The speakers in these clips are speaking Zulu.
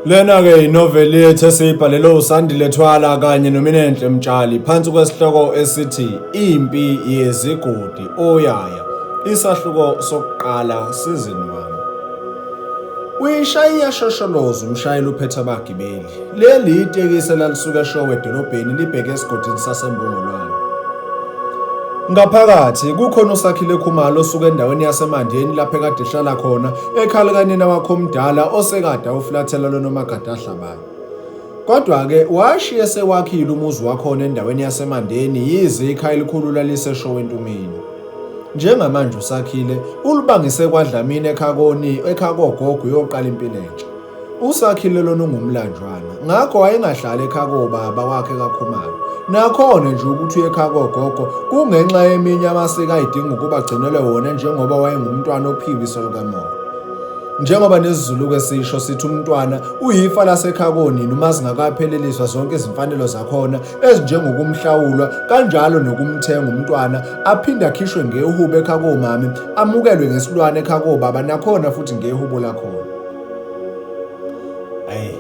Lena-ke yinoveli yethu esiyibhalelwe uSandile Thwala kanye noMinenhle Mtshali phansi kwesihloko esithi Impi Yezigodi Oyaya isahluko sokuqala sizini 1. Uyishaya iyashosholoza umshayeli uphethe abagibeli. Leli itekisi elalisuka eShowe edolobheni libheke esigodini saseMbongolwane. Ngaphakathi kukhona uSakhile Khumalo osuka endaweni yaseMandeni lapho ekade ehlala khona ekhala kanina wakho omdala osekade awuflathela lonomagade ahlabayo. Kodwa-ke washiye sewakhile umuzi wakhona endaweni yaseMandeni yize ikhaya elikhulu laliseshowe entumeni. Njengamanje uSakhile ulibangise kwaDlamini ekhakoni ekhakogogo uyoqala impilo entsha. uSakhile lona ungumlanjwana ngakho wayengahlali ekhaya kobaba wakhe kaKhumalo nakhona nje ukuthi uye ekhaya kogogo kungenxa yeminye amasiko ayidinga ukuba agcinele wona njengoba wayengumntwana ophiwe iso likamoya njengoba nesizulu-ke sisho sithi umntwana uyifa lasekhaya konini uma zingakapheleliswa zonke izimfanelo zakhona ezinjengokumhlawulwa kanjalo nokumthenga umntwana aphinde akhishwe ngehubo ekhaya komami amukelwe ngesilwane ekhaya kobaba nakhona futhi ngehubo lakhona Ayi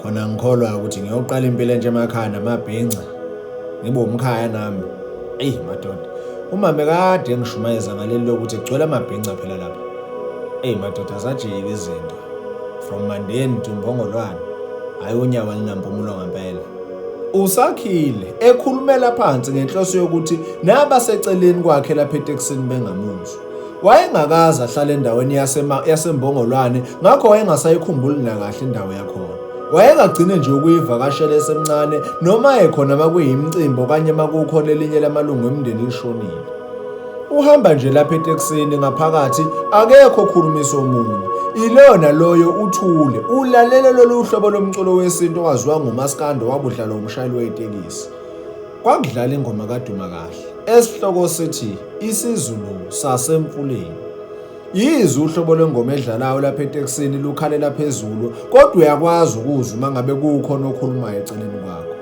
khona ngikholwa ukuthi ngiyoqala impilo entsha emakhaya namabhinca ngibe umkhaya nami eyi madoda umame kade engishumayeza ngaleli lokuthi kugcwele amabhinca phela lapha eyi madoda azajike izinto from mandeni to mbongolwane hhayi unyawo alinampumulo ngempela usakhile ekhulumela phansi ngenhloso yokuthi nabaseceleni kwakhe lapha etekisini bengamuzwa Wayengakaze ahlale endaweni yaseMbongolwane ngakho wayengasayikhumbuli nakahle indawo yakhona. Wayengagcine nje ukuyivakashela esemncane noma ekhona makuyimicimbi okanye makukhona elinye lamalungu emndeni lishonile. Uhamba nje lapha etekisini ngaphakathi akekho okhulumisa omunye. Ilona loyo uthule ulalele lolu hlobo lomculo wesintu owaziwa ngumaskando wabudlalwa umshayeli wetekisi. Kwakudlala ingoma kaduma kahle esihloko sithi isizulu sasemfuleni. Yize uhlobo lwengoma edlalayo lapha etekisini lukhalela phezulu kodwa uyakwazi ukuzwa uma ngabe kukhona okhulumayo eceleni kwakho.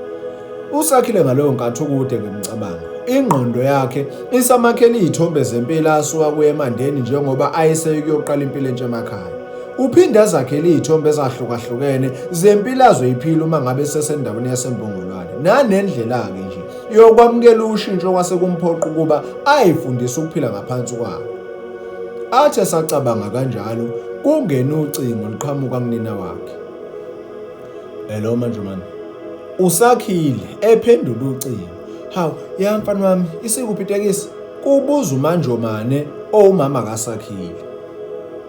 Usakhile ngaleyo nkathi ukude ngemicabango. Ingqondo yakhe isamakhele izithombe zempilo asuka kuye emandeni njengoba ayeseyikuyoqala impilo entsha emakhaya. Uphinde azakhele izithombe ezahlukahlukene zempilo azoyiphila uma ngabe sesendaweni yasembongolwane nanendlela-ke nje yokwamukela ushintsho kwase kumphoqa ukuba ayifundise ukuphila ngaphansi kwalo athi esacabanga kanjalo kungena ucingo liqhamuka kunina wakhe hello manjumane usakhile ephendula ucingo hawu ya mfana wami isikuphi itekisi kubuza umanjomane owumama kasakhile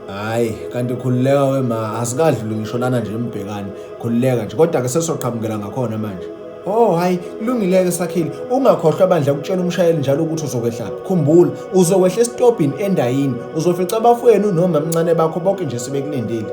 hayi kanti khululeka wema asikadluli ngisho lana nje mbhekani khululeka nje kodwa-ke sesoqhamukela ngakhona manje Oh hayi kulungileke sakhile ungakhohlwa bandla ukutshela umshayeli njalo ukuthi uzokwehlaphi khumbula uzokwehla esitobhini endayini uzofica abafowenu noma mncane bakho bonke nje sebekulindile